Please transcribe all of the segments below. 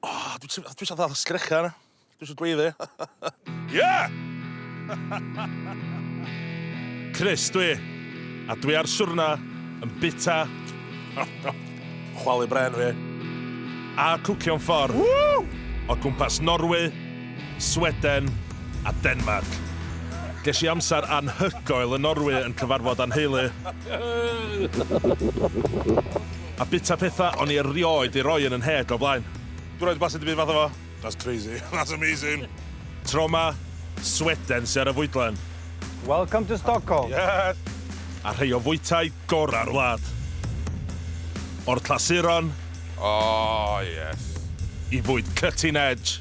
Oh, dwi eisiau dwi dal sgrecha yna. Dwi eisiau gweiddi. yeah! Chris, dwi. A dwi ar siwrna yn bita. Chwalu bren fi. A cwcio'n ffordd. Woo! O gwmpas Norwy. Sweden a Denmarc. Ges i amser anhygoel yn Norwy yn cyfarfod â'n nheulu. A bita pethau o'n i erioed 'di rhoi yn 'y nheg o'r blaen. Dwi erioed 'di blasu dim byd fatha fo. That's crazy. That's amazing. Tro 'ma, Sweden sy ar y fwydlen. Welcome to Stockholm. Yes! A rhei o fwytai gorau'r wlad. O'r clasuron. Oh yes. I fwyd cutting edge.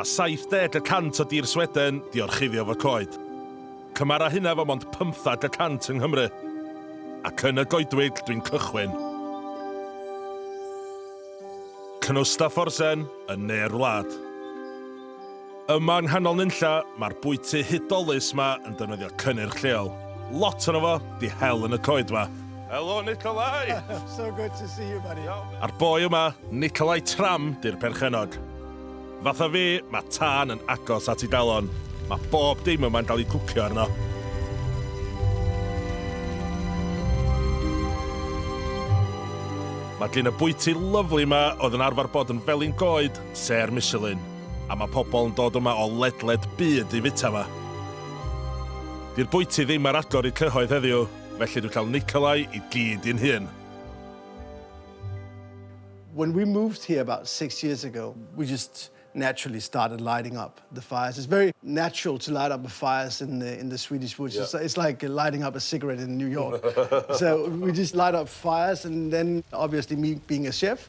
Mae 70 y cant o dir Sweden di orchuddio fo coed. Cymara hynna fo mond 15 y cant yng Nghymru. Ac yn y goedwig dwi'n cychwyn. Knustaforsen yn ne'r wlad. Yma yng nghanol nunlla, mae'r bwyty hudolus ma yn defnyddio cynnyrch lleol. Lot ono fo, di hel yn y coed ma. Helo Nikolai! So good to see you buddy. A'r boi yma, Nikolai Tram, di'r perchennog. Fatha fi, mae tân yn agos at ei galon. Mae bob dim yma'n cael ei cwcio arno. Mae gin y bwyty lyfli ma oedd yn arfer bod yn felin goed, sêr Michelin. A mae pobl yn dod yma o ledled byd i fwyta yma. Di'r bwyty ddim ar agor i cyhoedd heddiw, felly dwi'n cael Nikolai i gyd i'n hun. When we moved here about six years ago, we just naturally started lighting up the fires. It's very natural to light up the fires in the, in the Swedish woods. Yeah. It's, it's like lighting up a cigarette in New York. so we just light up fires and then obviously me being a chef,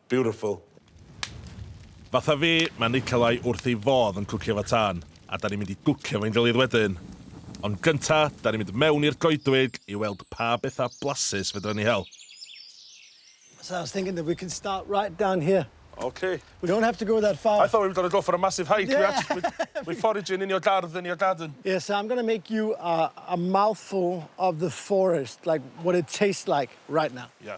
Beautiful. Fatha fi, mae Nikolai wrth ei fodd yn cwcio efo tân, a 'da ni'n mynd i gwcio efo'n gilydd wedyn. Ond gynta, 'da ni'n mynd mewn i'r goedwig i weld pa betha blasus fedra ni hel. So I was thinking that we can start right down here. Ok. We don't have to go that far. I thought we were gonna go for a massive hike. We actually, we're foraging in your gardd, in your garden. Yeah, so I'm gonna make you a mouthful of the forest, like what it tastes like right now. Yeah.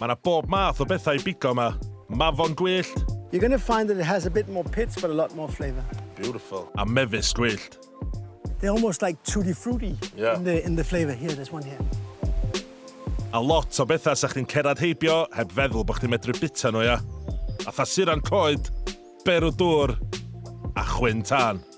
Mae yna bob math o bethau i bigo yma. Mafon gwyllt. You're going to find that it has a bit more pits but a lot more flavour. Beautiful. A mefus gwyllt. They're almost like tutti frutti yeah. in, the, in the flavour. Here, there's one here. A lot o bethau sa chdi'n cerad heibio heb feddwl bod chdi'n medru bita nhw, ia. A thasuran coed, berw dŵr a chwyn tân.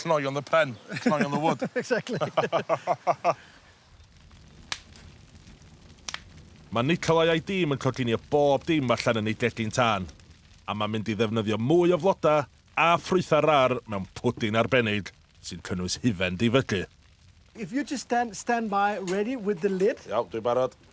Cnoion the pen, cnoion the wood. Exactly. Mae Nikolai a'i dîm yn coginio bob dim allan yn ei gegin tân, a mae'n mynd i ddefnyddio mwy o flodau a ffrwythau rar mewn pwdin arbennig sy'n cynnwys hufen difygu. If you just stand stand by ready with the lid. Iawn, dwi'n barod.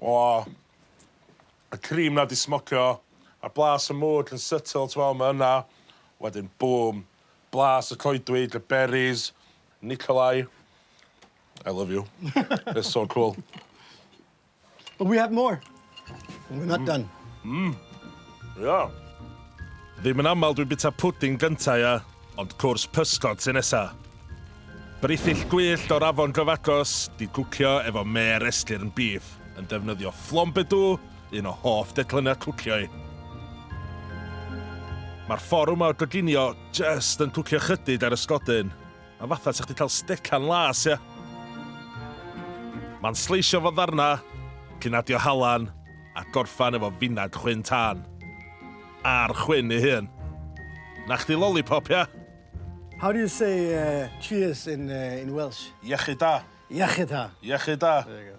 O! Y cream 'na 'di smocio, a'r blas y mwd yn subtle t'mo' ma' yna, wedyn bŵm, blas y coedwig, y berries, Nikolai, I love you. It's so cool. But we have more. Mwy na dan. Mmm. Ia. Ddim yn aml dwi'n bita pwdin gynta, ia, ond cwrs pysgod sy nesa. Brithyll gwyllt o'r afon gyfagos, di gwcio efo mêr esgyrn beef, yn defnyddio flambedou, un o hoff declyniau cwcio i. Mae'r fforwm o goginio jyst yn cwcio chydig ar ysgodyn. Mae fatha sa chdi cael stecan las ia. Mae'n sleisio fo ddarna, cyn adio halan a gorffan efo finag chwyn tân. A'r chwyn ei hun. Na chdi lollipop ia? How do you say cheers in in Welsh? Iechyd da. Iechyd da. Iechyd da. There you go.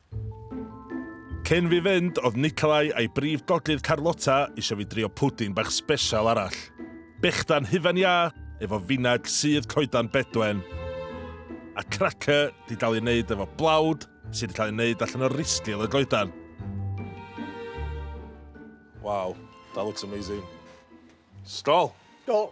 Cyn fi fynd, oedd Nikolai a'i brif gogledd Carlotta eisiau fi drio pwdin bach sbesial arall. Bechdan hufen iâ, efo finag sudd coedan bedwen, a cracker di dal i wneud efo blawd sydd wedi cael ei wneud allan o risgil y goedan. Wow, that looks amazing. Stol! Stol!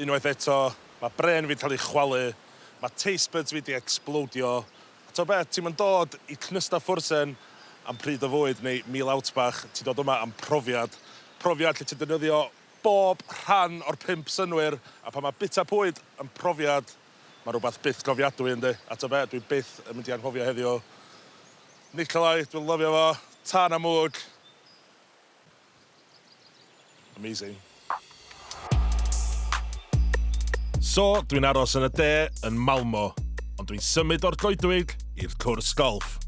Unwaith eto, mae brên fi'n cael ei chwalu, mae taste buds fi 'di ecsblowdio, a t'o' beth, ti'm yn dod i Knüstaffursen am pryd o fwyd neu Meal Out bach, ti'n dod yma am profiad, profiad lle ti'n defnyddio bob rhan o'r pump synnwyr, a pan mae bwyta bwyd yn profiad, mae rhywbeth byth cofiadwy yndi, a t'o' be', dwi byth yn mynd i anghofio heddiw. Nikolai, dwi'n lyfio fo, tân a mwg. Amazing. So, dwi'n aros yn y de, yn Malmo, ond dwi'n symud o'r goedwig i'r cwrs golf.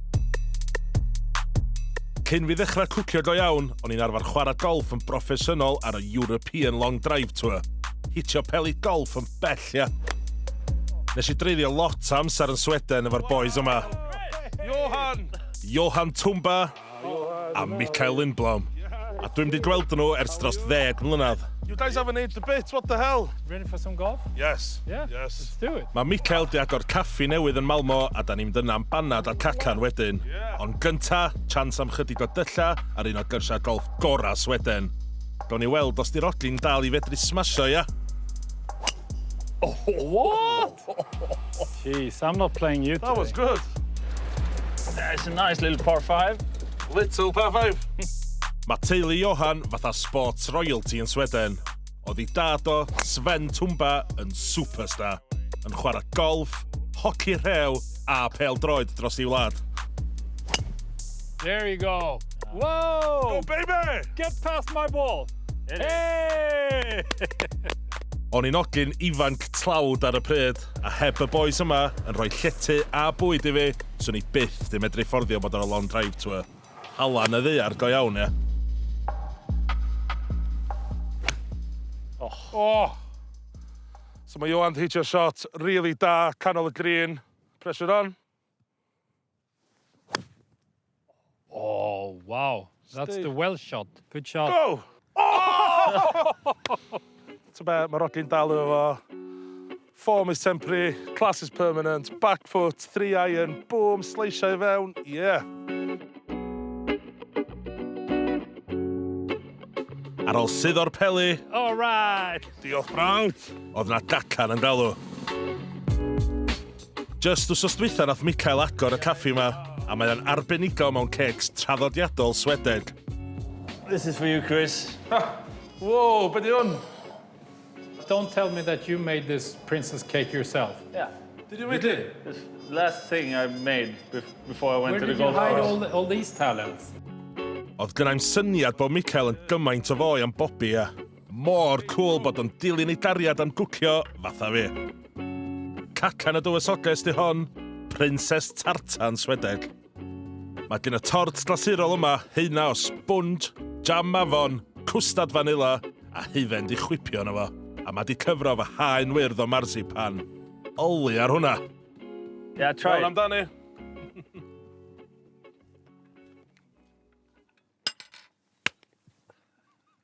Cyn fi ddechrau cwcio go iawn, o'n i'n arfer chwarae golf yn broffesiynol ar y European Long Drive Tour. Hitio peli golf yn bell, ia. Nes i dreiddio lot amser yn Sweden efo'r boys yma. Johan! Johan Tumba, a Mikael Lindblom, a dwi'm 'di gweld nhw ers dros ddeg mlynedd. You guys haven't aged a bit, what the hell? Ready for some golf? Yes. Yeah? Yes. Let's do it. Mae Mikael 'di agor caffi newydd yn Malmo a 'dan ni'n mynd yna am banad a cacan wedyn. Ond gynta, chance am chydig o dylla ar un o gyrsiau golff gorau Sweden. Gawn ni weld os 'di'r ogyn dal i fedru smasho, ia? What? Jeez, I'm not playing you today. That was good. Yeah, it's a nice little par five. Little par five. Mae teulu Johan fatha sports royalty yn Sweden. Oedd i dad o, Sven Tumba, yn superstar, yn chwarae golf, hoci rhew a pel droed dros ei wlad. There you go. Whoa! Go baby! Get past my ball! O'n i'n ogyn ifanc tlawd ar y pryd, a heb y bois yma yn rhoi llety a bwyd i fi, swn i byth di medru fforddio bod ar y long drive to y... Allan y ddaear go iawn, ie? Oh. Oh! So mae Johan 'di hitio shot rili da, canol y green. Pressure on. Oh, wow. That's Steve. the well shot. Good shot. Go! Oh! Ti'n be, mae Rodli'n dal efo fo. Form is temporary, class is permanent. Back foot, three iron, boom, sleisio i fewn. Yeah. Ar ôl sydd o'r peli. All right. Diolch, Frank. Oedd na datan yn galw. Jyst wsos dwytha nath Mikael agor y caffi yma, a mae o'n arbenigo mewn cêcs traddodiadol Swedeg. This is for you, Chris. Whoa, be di hwn? Don't tell me that you made this princess cake yourself. Yeah. Did you really? This last thing I made before I went Where to the golf course. Where did you hide all, all these talents? Oedd gynnau'n syniad bod Mikael yn gymaint o foi am Bobby, a... Mor cwl bod o'n dilyn ei gariad am gwcio fatha fi. Cacan y dywysoges di hon, Prinses Tartan Swedeg. Mae gen y tort glasurol yma heina o sponge, jam mafon, cwstad fanila a hufen di chwipio yna fo, a mae di cyfro fy haen wyrdd o marzipan. Oli ar hwnna! Yeah, try. Iawn amdani.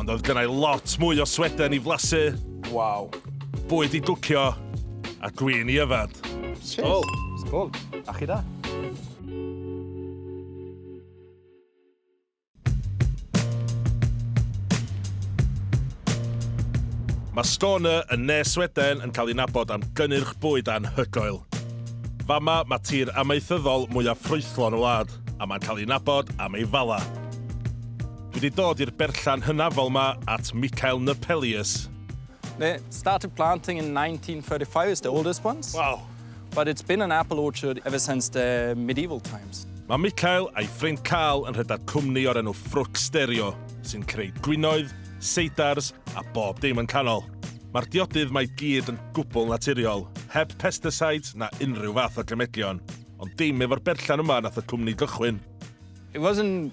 Ond oedd gynnau lot mwy o sweden i flasu. Waw. Bwyd i gwcio a gwyn i yfad. Sgol. Sgol. A chi da. Mae Skåne yn ne Sweden yn cael ei nabod am gynnyrch bwyd anhygoel. Fama mae tir amaethyddol mwyaf ffrwythlon y wlad, a mae'n cael ei nabod am ei fala. Dwi 'di dod i'r berllan hynafol 'ma at Michael Nepelius. They started planting in 1935, it's the oldest ones. Wow. But it's been an apple orchard ever since the medieval times. Mae Michael a'i ffrind Carl yn rhedeg cwmni o'r enw Ffrwc Stereo, sy'n creu gwinoedd, seidars a bob dim yn canol. Mae'r diodydd mae gyd yn gwbl naturiol, heb pesticides na unrhyw fath o gemedion. Ond dim efo'r berllan yma nath y cwmni gychwyn. It wasn't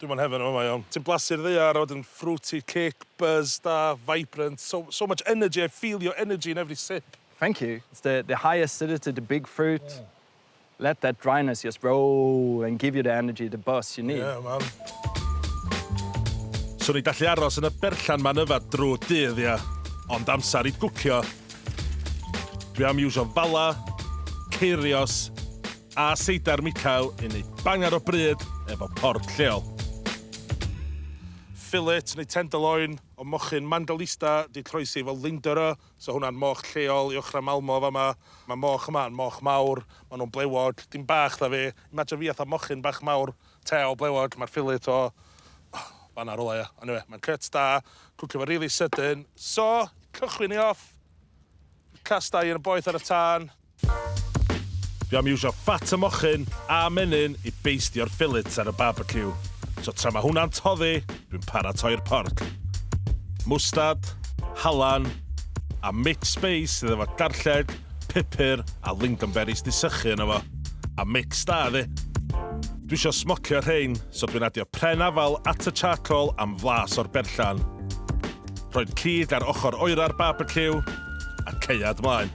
Dwi mo'n heaven yn fama iawn. Ti'n blasu'r ddaear a wedyn fruity kick, buzz da, vibrant, so so much energy, I feel your energy in every sip. Thank you. It's the the high acidity, the big fruit. Let that dryness just roll and give you the energy, the buzz you need. Yeah man. Swn i'n gallu aros yn y berllan ma'n yfad drw dydd ia. Ond amser i gwcio. Dwi am iwsio fala, ceirios, a seidar Michael i wneud bangar o bryd efo port lleol. Fillet neu tenderloin o mochyn Mandalista 'di croesi efo Lindera, so hwnna'n moch lleol i ochrau Malmo fama. Mae moch yma yn moch mawr, maen nhw'n blewog, dim bach da fi. Imajino fi fatha mochyn bach mawr, tail blewog, mae'r fillet o fan'na rywle ia. Ond eniwe, mae'n cuts da, cwcio fo rili sydyn. So, cychwyn ni off, castai yn y boeth ar y tân. Dwi am iwsio ffat y mochyn a menyn i beistio'r ffilits ar y barbeciw, so tra mae hwnna'n toddi dwi'n paratoi'r porc. Mwstard, halan, a mixed space sydd efo garlleg, pupur a lingonberries 'di sychu yno fo, a mix da iddi. Dwi isio smocio rhein, so dwi'n adio pren afal at y charcoal am flas o'r berllan. Rhoi'r cig ar ochr oera'r barbeciw, a caead mlaen.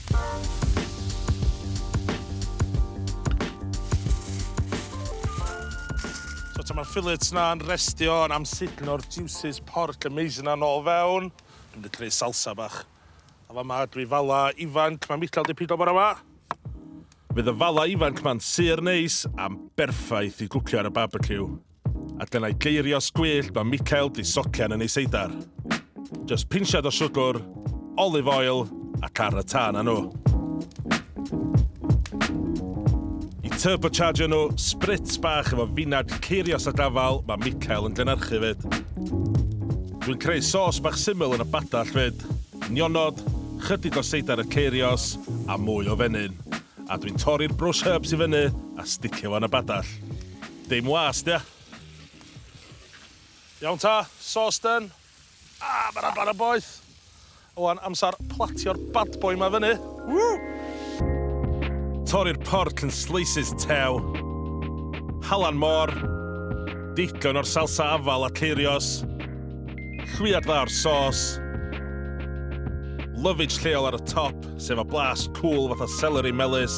So ta ma'r fillets na'n restio yn amsugno'r juices porc y maize yna nôl fewn. Dwi'n mynd i creu salsa bach. A fa ma dwi fala ifanc, ma Michal di pido bora ma. Fydd y fala ifanc ma'n sur neis a'n berffaith i gwcio ar y barbeciw. A dyna'i geirios gwyllt mae Michael di socian yn ei seidar. Just pinsiad o siwgr, olive oil ac ar y tân â nhw. I turbochargio nhw, spritz bach efo finad ceirios a gafal mae Michael yn gynhyrchu fyd. Dwi'n creu sos bach syml yn y badall fyd. Nionod, chydig o seidar y ceirios a mwy o fenyn. A dwi'n torri'r brush herbs i fyny a sticio fo yn y badall. Dim was, dia. Iawn ta, sos done. Ah, mae'r aban yn boeth. Wan, amser platio'r bad boy ma fyny. Woo! Torri'r porc yn slices tew. Halan môr. Digon o'r salsa afal a ceirios. Llwyad dda o'r sos. Lovage lleol ar y top, sef a blas cwl fatha celery melys.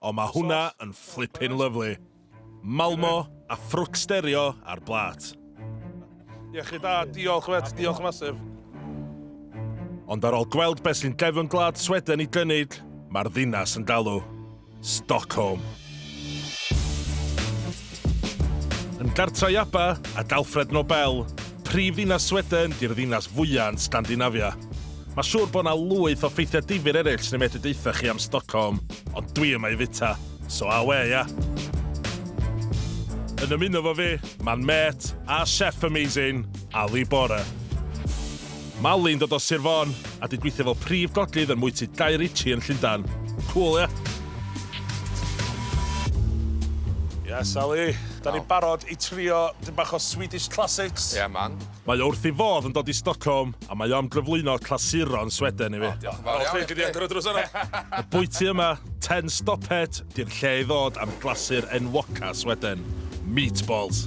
O ma hwnna yn flippin lyfli. Malmo a ffrwc sterio ar blât. Iechyd da, diolch mêt, diolch massive. Ond ar ol gweld be sy'n gefn gwlad Sweden i gynydd, mae'r ddinas yn galw. Stockholm. Yn gartra i Abba, a d'Alfred Nobel, prif ddinas Sweden, di'r ddinas fwya yn Sgandinafia. Ma siwr bo na lwyth o ffeithia difyr ereill sy'n medru deutha chi am Stockholm, ond dwi yma i fita, so awe ia! Yn ymuno 'fo fi, ma'n mêt a chef amazing, Ali Bora. Mali'n dod o Sir Fôn a di gweithio fel prif godlydd yn mwyty Guy Ritchie yn Llundan. Cŵl ia? Yes Ali, 'dan ni'n barod i trio dipyn bach o Swedish classics. Ie man. Mae o wrth ei fodd yn dod i Stockholm a mae o am gyflwyno clasuron Sweden i fi. O diolch yn fawr iawn. Oce gei di agor y drws yna. Y bwyty yma, Ten Stoppet, di'r lle i ddod am glasur enwoca Sweden, meatballs.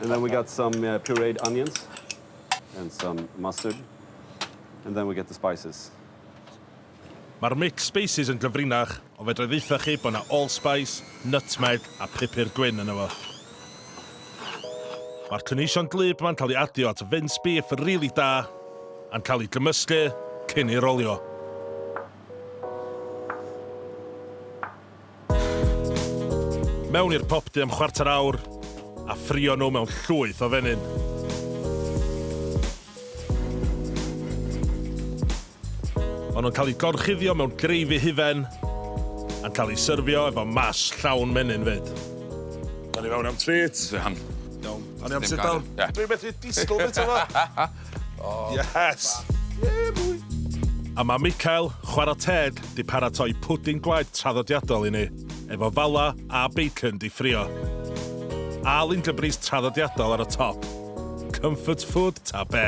And then we got some uh, pureed onions and some mustard. And then we get the spices. Mae'r mix spices yn gyfrinach, ond fedra i ddeitha chi bod yna allspice, nutmeg a pupur gwyn yn efo. Mae'r cynhwysion glib yma'n cael ei adio at vince beef rili really da, a'n cael ei gymysgu cyn ei rolio. Mewn i'r popty am chwarter awr a ffrio nhw mewn llwyth o fenyn. Maen nhw'n cael eu gorchuddio mewn greify hufen a'n cael eu syrfio efo mash llawn menyn 'fyd. Awn i fewn am treat. Iawn. Awn ni am sit down? Ie. Dwi methu disgwyl bita fo! Yes! A mae Michael, chwarae teg, 'di paratoi pwdin gwaed traddodiadol i ni, efo fala a bacon 'di ffrio. A lindebris traddodiadol ar y top. Comfort food ta be?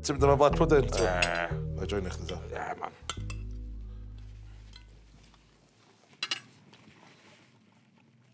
Ti'n mynd am y black pudding? Eee. Na i joinio chdi ta. Ie, man.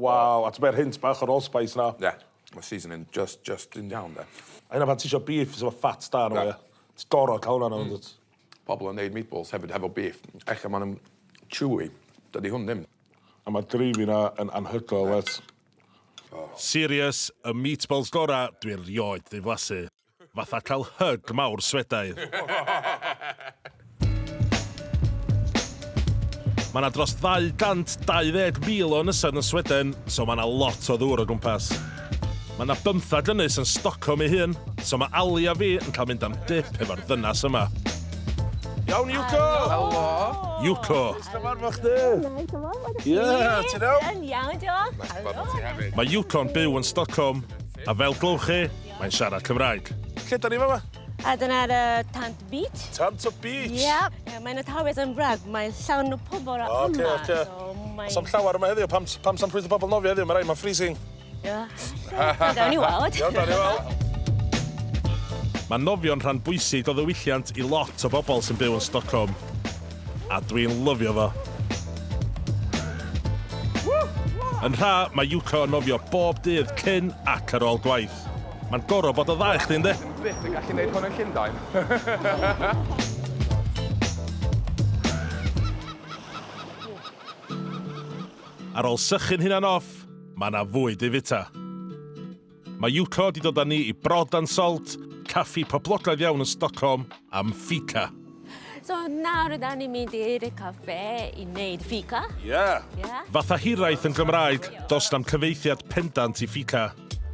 Waw, a t'mod yr hint bach o'r allspice 'na? Ie. Ma'r seasoning jyst jyst yn iawn 'de. A hynna pan ti isio beef sy efo fat da arno fo ia? Ti goro ca'l wnna arno fo yndwt? Pobol yn neud meatballs hefyd hefo beef ella ma' nw'n chewy. Dydi hwn ddim. A ma'r greivy 'na yn anhygoel mêt. Serious, y meatballs gora dwi erioed 'di flasu. Fatha cael hyg mawr Swedaidd. Mae yna dros 220,000 o ynysoedd yn Sweden, so mae yna lot o ddŵr o gwmpas. Mae yna bymtheg ynys yn Stockholm ei hun, so mae Ali a fi yn cael mynd am dip efo'r ddynas yma. Iawn, Yuko! Helo! Yuko! Cyfarfod chdi! Ie, ti'n iawn? Yn iawn, diolch. Mae Yuko'n byw yn Stockholm, a fel glywch chi, Mae'n siarad Cymraeg. Lle da ni fama? A dyna ar y Tant Beach. Tant o Beach? Yep. Yeah, mae'n y tawys yn wrag, mae'n llawn o pobl yma. O, oce, oce. So, mae'n... Sam llawer yma heddiw, pam, pam sam llwyth o pobl nofio heddiw, mae rai, mae'n freezing. Ia, yeah. da ni weld. Iawn, da ni weld. Mae nofio'n rhan bwysig o ddiwylliant i lot o bobl sy'n byw yn Stockholm. A dwi'n lyfio fo! Yn rha, mae Yuko yn nofio bob dydd cyn ac ar ôl gwaith. Mae'n goro bod o dda i chdi, yndi? Dwi byth yn gallu neud hwn yn Llundain. Ar ôl sychu'n hunan off, mae 'na fwyd i fita. Mae Yuko 'di dod â ni i Brod and Salt, caffi poblogaidd iawn yn Stockholm, am fika. So nawr rydan ni'n mynd i'r caffe i wneud fika? Ie! Ie? Fatha hiraeth yn Gymraeg, does na'm cyfeithiad pendant i fika.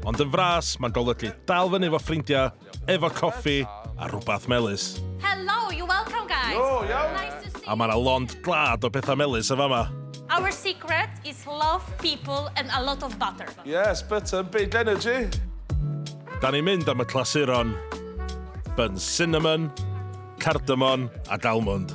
Ond yn fras, mae'n golygu dal fyny efo ffrindiau, efo coffi a rhwbath melys. Hello, you're welcome guys. Yo, yo. Nice to see you. A mae yna lond glad o bethau melys yn fama. Our secret is love, people and a lot of butter. Yes, butter and big energy. Da ni'n mynd am y clasuron. Bun cinnamon, cardamon ac almond.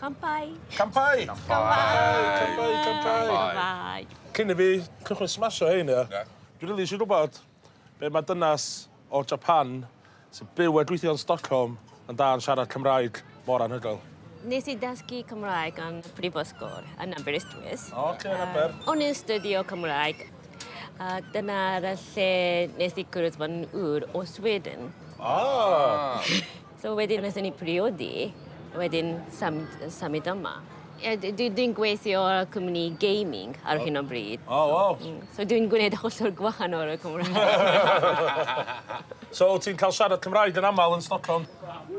Campai! Campai! Campai! Campai! Cyn i fi cychwyn smasho hein, ia? Ia. Dwi rili isio gwbod be' ma' dynas o Japan sy'n byw a gweithio yn Stockholm yn da yn siarad Cymraeg mor anhygoel. Nes i dysgu Cymraeg yn y prifysgol yn Aberystwyth. O, oce, yn Aber. Yym, o'n i'n stydio Cymraeg, a dyna'r y lle nes i cwrdd fy n- ŵr o Sweden. O! So wedyn wnaethon ni priodi, wedyn symud, symud yma. Ie, d- dwi, dwi'n gweithio ar y cwmni gaming ar hyn o bryd. O, waw. Mm, So dwi'n gwneud hollol gwahanol o'r Cymraeg. So, wyt ti'n cael siarad Cymraeg yn aml yn Stockholm?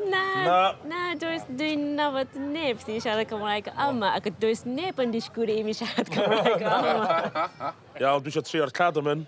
Na, Na. na, does, dwi'n nabod neb sy'n siarad Cymraeg yma, ac does neb yn disgwyl i mi siarad Cymraeg yma. Iawn, dwi eisiau trio'r cardamom.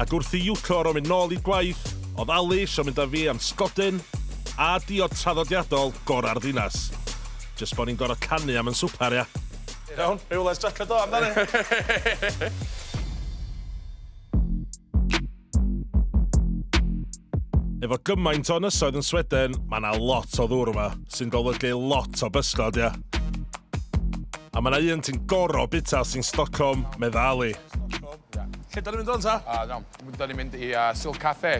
Ac wrth i Yuko orfod mynd nôl i gwaith, oedd Ali isio mynd â fi am sgodyn a diod traddodiadol gorau'r ddinas. Jyst bod ni'n gorfod canu am yn swper, ia? Iawn, ryw les jacket do, amdani! Efo gymaint o ynysoedd yn Sweden, mae yna lot o ddŵr yma, sy'n golygu lot o bysgod, ia? A mae yna un ti'n gorfod bwyta os ti'n Stockholm, meddai Ali. Lle da ni'n mynd wan ta? A iawn, da ni'n mynd i uh, Silk Cafe,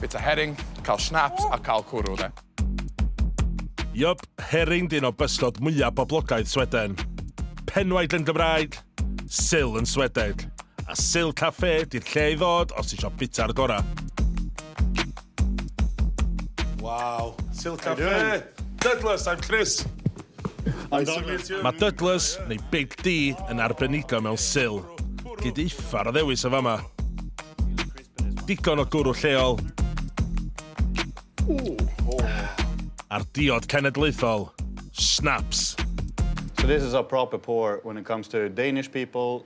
bit o herring, cael schnapps a cael cwrw de. Yop, herring dyn o bysgod mwyaf boblogaidd Sweden. Penwaid yn Gymraeg, sil yn Swedeg. A sil cafe, di'r lle i ddod os ti eisiau bita'r gorau. Wow. Silk How Cafe. Douglas, I'm Chris. Mae Douglas, neu Big D, yn arbenigo mewn syl. Gyd uffar o ddewis o fama. Digon o gwrw lleol. A'r diod cenedlaethol, snaps. So this is a proper pour when it comes to Danish people,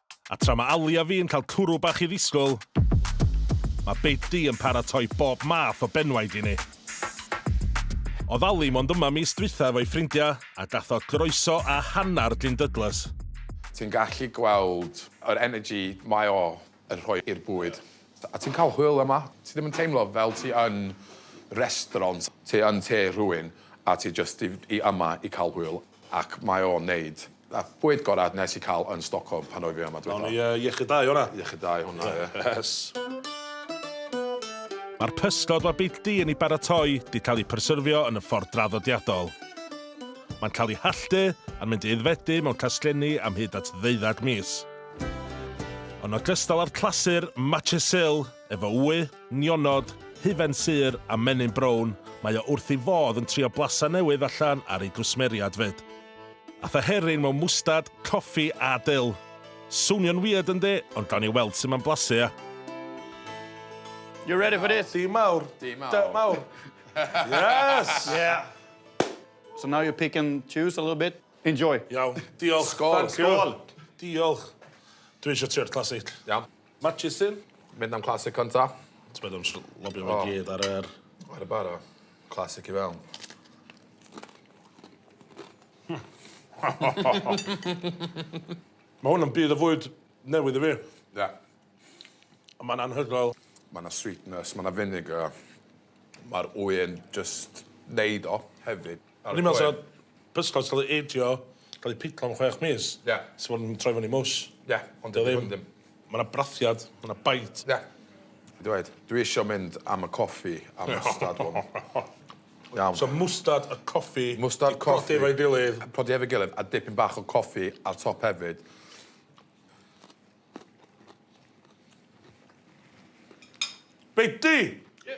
A tra mae Ali a fi'n cael cwrw bach i ddisgwyl, mae Beti yn paratoi bob math o benwaid i ni. Oedd Ali mond yma mis dwytha efo'i ffrindiau a gath o groeso a hanner Glyn Douglas. Ti'n gallu gweld yr energy mae o yn rhoi i'r bwyd. A ti'n cael hwyl yma. Ti ddim yn teimlo fel ti yn restaurant. Ti yn tŷ rhywun a ti jyst i yma i cael hwyl ac mae o'n neud. Na, bwyd gorau nes i cael yn Stockholm pan oedd fi yma dwytha. Gawn ni iechyd da i hwnna. Iechyd da i hwnna, ie. Yes. Mae'r pysgod mae Beic Du yn ei baratoi 'di cael eu pryserfio yn y ffordd draddodiadol. Mae'n cael eu halltu a'n mynd i aeddfedu mewn casglenni am hyd at ddeuddeg mis. Yn ogystal â'r clasur Matjessill, Efo ŵy, nionod, hufen sur a menyn brown, mae o wrth ei fodd yn trio blasa newydd allan ar ei gwsmeriad 'fyd. Ath y herrin mewn mwstad, coffi a dil. Swnio'n weird yndi? Ond gawn ni weld sut mae'n blasu ia? You ready for this? Dyn mawr. Dyn mawr. Dyn mawr. Yes! Yeah. So now you pick and choose a little bit. Enjoy. Iawn. Diolch. Skål. Skål. Diolch. Dwi isio trio'r classic. Iawn. Murchison. Mynd am classic cynta. Ti meddwl am js lobio fo i gyd ar yr... Ar y bara. Classic i fewn. Ma' hwn yn byd o fwyd newydd i fi. Ie. A ma'n anhygoel. Ma' 'na sweetness ma' 'na vinegar ma'r ŵyn jyst neud o hefyd. O'n i'n me'wl sa pysgod ca'l ei ageio, ca'l ei piclo am chwech mis. Ie. Sa fo'n troi fyny mwsh. Ie, ond dyw e ddim. 'Di o ddim. Ma' 'na brathiad, ma' 'na bite. Ie. Dwi dweud, dwi isio mynd am y coffi a mwstad hwn. Iawn. So mwstad a coffi... Mwstad, coffi. ...'di prodi efo'i gilydd. Prodi efo'i gilydd a dipyn bach o coffi ar top hefyd. Beiti! Ie.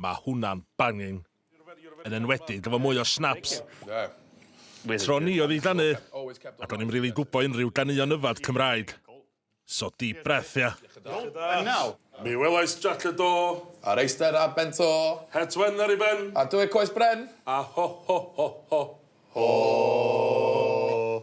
Mae hwnna'n banging. Yn enwedig efo mwy o snaps. Tro ni oedd i ganu, ac o'n i'm rili gwbo unrhyw ganeuon yfad Cymraeg. So deep breath ia. And now. Mi welais Jac y Do. A'r Eisder a Ben To. Het Wen ar ei ben. A Dwy Coes Bren. A ho ho ho ho. Ho!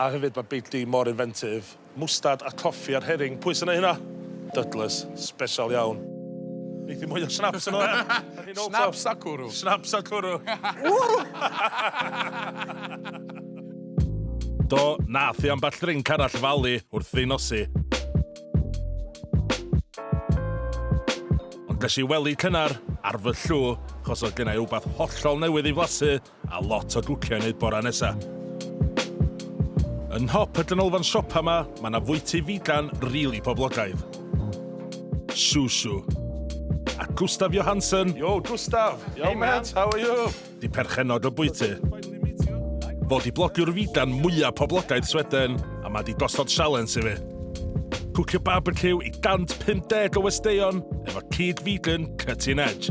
A hefyd mae Big D mor inventive. Mwstad a coffi a'r herring, pwy sy'n neu hynna? Dudless. Special iawn. Neith hi mwy o snaps yno ia? Snaps a cwrw. Snaps a cwrw. Do, nath hi ambell ddrinc arall falu wrth fi nosi. Ond ges i wely cynnar ar fy llw, chos oedd gennai wbath hollol newydd i flasu, A lot o gwcio i neud bora nesa. Yn nhop y ganolfan siopa ma, ma na fwyty figan rili poblogaidd. Susu. A Gustaf Johansson. Yo Gustaf! Hey mate, how are you? Di perchennog y bwyty. Fo di blogiwr figan mwya poblogaidd Sweden a ma di gosod sialens i fi. Cwcio barbeciw i 150 o westeion efo cig figan cutting edge.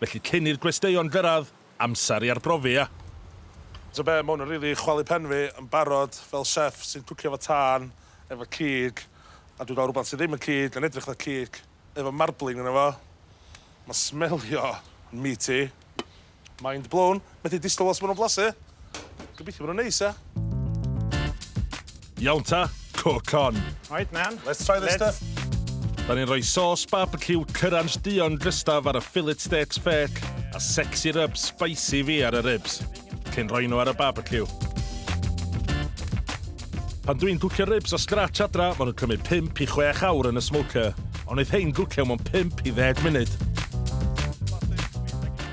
Felly cyn i'r gwesteion gyrraedd, amser i arbrofi, ia? Ta be, ma hwn yn rili chwalu pen fi yn barod fel chef sy'n cwcio efo tân, efo cig, a dwi'n cael rhywbeth sydd ddim yn cig yn edrych fatha cig efo marbling yno fo. Mae'n smelio yn meaty. Mind blown. Methu disgwyl weld sut ma' nw'n blasu. Gobeithio bo' nw'n neis, ia? Iawn ta, cook on. Right man. Let's try this stuff. Let's. 'Dan ni'n rhoi sauce barbeciw cyransh duon drystaf ar y fillet steaks fêc a sexy rub spicy fi ar y ribs, cyn rhoi nhw ar y barbeciw. Pan dwi'n cwcio ribs o scratch adra, ma' nhw'n cymryd pump i chwech awr yn y smoker, ond neith hein gwcio mewn pump i ddeg munud.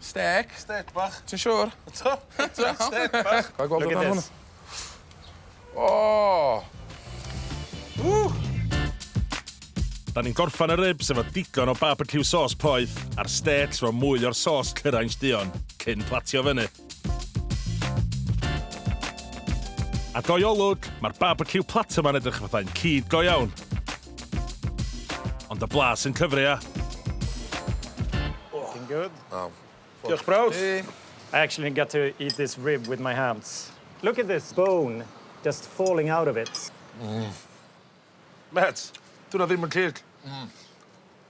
Stêc. Stêc bach. Ti'n siŵr? Eto? Eto? Stêc bach. Ga' i gweld hwnna hwn? O! Ww! Da ni'n gorffan y ribs efo digon o barbeciw sos poeth a'r stêcs efo mwy o'r sos cyrainsh duon cyn platio fyny. A doi olwg, mae'r barbeciw platter ma'n edrych fathau'n cig go iawn. Ond y blas yn cyfri a... Looking good. Oh. Diolch brawd. I actually get to eat this rib with my hands. Look at this bone just falling out of it. Mm. Met, dyw 'na ddim yn cig. Mm.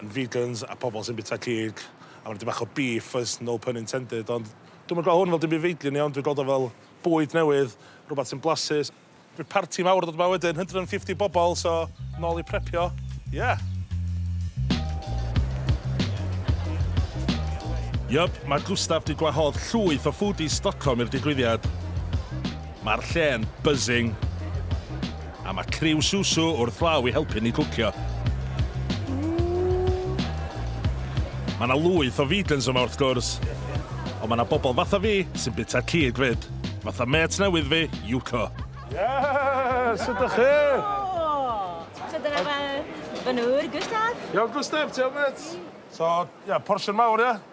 yn vegans a pobl sy'n bita cig a ma' 'na dipyn bach o beef oes no pun intended ond dwi'm yn gweld hwn fel dim byd feidrun iawn dwi'n gweld o fel bwyd newydd rwbath sy'n blasus. Bydd parti mawr yn dod 'ma wedyn hundred and fifty bobl so nôl i prepio ie! Yup, mae Gustaf 'di gwahodd llwyth o foodies Stockholm i'r digwyddiad. Mae'r lle'n buzzing. A mae criw Susu wrth law i helpu ni cwcio. Mae 'na lwyth o vegans yma wrth gwrs, ond mae 'na bobl fatha fi sy'n bita cig 'fyd, fatha mêt newydd fi, Yuko. Yes! Sut 'dach chi? Helo! So dyna fy fy nŵr, Gustaf. Iawn Gustaf, ti iawn mêt? So, ia, portion mawr ia?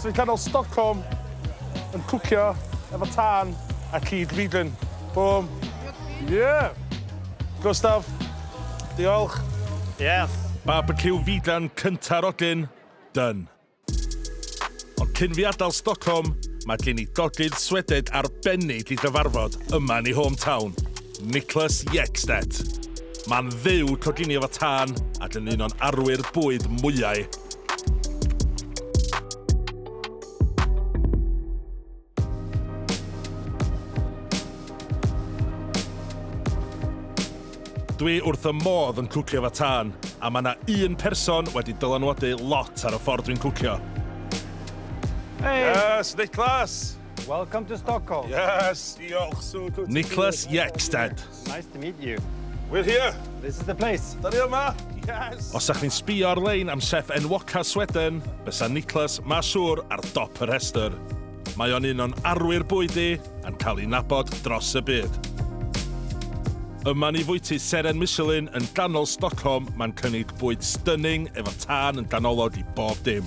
Sy'n canol Stockholm yn cwcio efo tân a cig fidlin. Bum. Yeah! Gustaf, diolch. Yes! Barbeciw fidlan cynta Rodin. Done. Ond cyn fi adael Stockholm, mae gen i dogydd Swedeg arbennig i gyfarfod yma yn ei home town. Niklas Ekstedt. Mae'n fyw coginio fo tân ac yn un o'n arwyr bwyd mwyau. Dwi wrth y modd yn cwcio fo tân, a mae yna un person wedi dylanwadu lot ar y ffordd dwi'n cwcio. Hei! Yes, Niklas! Welcome to Stockholm. Yes, diolch, so good Niklas Jekstead. Nice to meet you. We're here. This is the place. Da ni yma. Yes. Os ydych chi'n sbio ar-lein am chef enwoca Sweden, bysa Niklas ma siŵr ar dop y rhestr. Mae o'n un o'n arwyr bwyd i, a'n cael ei nabod dros y byd. Yma ni fwyty Seren Michelin yn ganol Stockholm, mae'n cynnig bwyd stunning efo tân yn ganolog i bob dim.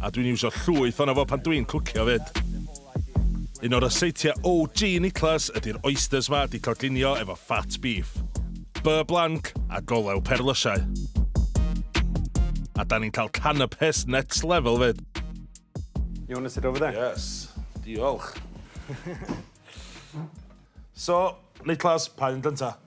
A dwi'n iwsio llwyth ono fo pan dwi'n cwcio 'fyd. Un o ryseitiau OG Niklas ydi'r oysters 'ma 'di cloglinio efo fat beef, beurre blanc a golew perlysiau. A 'dan ni'n cael canapes next level 'fyd. You want to sit over there? Yes, diolch. So, Niklas, pa un gynta?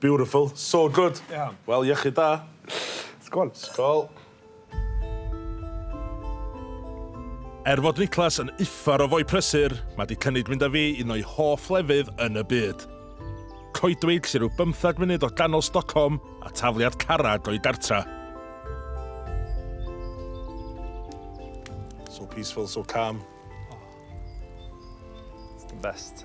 Beautiful. So good. Iawn. Wel, iechyd da. Sgol. Sgol. Er fod Niklas yn uffar o foi prysur, mae di cynnig mynd â fi un o'i hoff lefydd yn y byd. Coedwig sy'n rhyw bymthag munud o ganol Stockholm a tafliad carad o'i gartra. So peaceful, so calm. Oh. It's the best.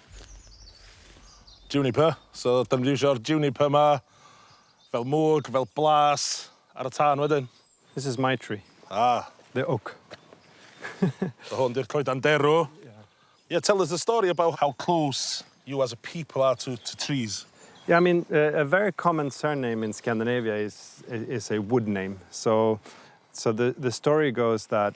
Juniper, so 'dan ni'n mynd i iwsio'r juniper 'ma fel mwg, fel blas ar y tân wedyn. This is my tree. Ah. The oak. So hwn 'di'r coeden derw. Ie. Yeah, tell us a story about how close you as a people are to to trees. Yeah, I mean, yy a very common surname in Scandinavia is is a wood name, so so the the story goes that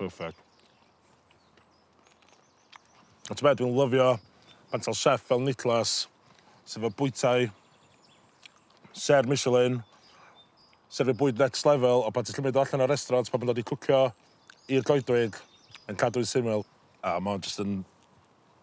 Perfect. A ti'n meddwl, dwi'n lyfio pan ta'r chef fel Niklas, sydd fel bwytai, ser Michelin, sef y bwyd next level, o pan ti'n llymyd allan o'r restaurant, pan mae'n dod i cwcio i'r goedwig, yn cadw'n syml. A mae'n just yn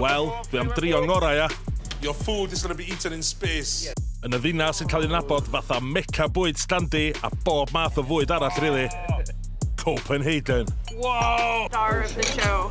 Wel, dwi am drio'n ngorau, ia? Your food is gonna be eaten in space. Yn y ddinas sy'n cael ei nabod fatha Mecca bwyd standi a bob math o fwyd arall rili. Copenhagen. Wow! Star of the show.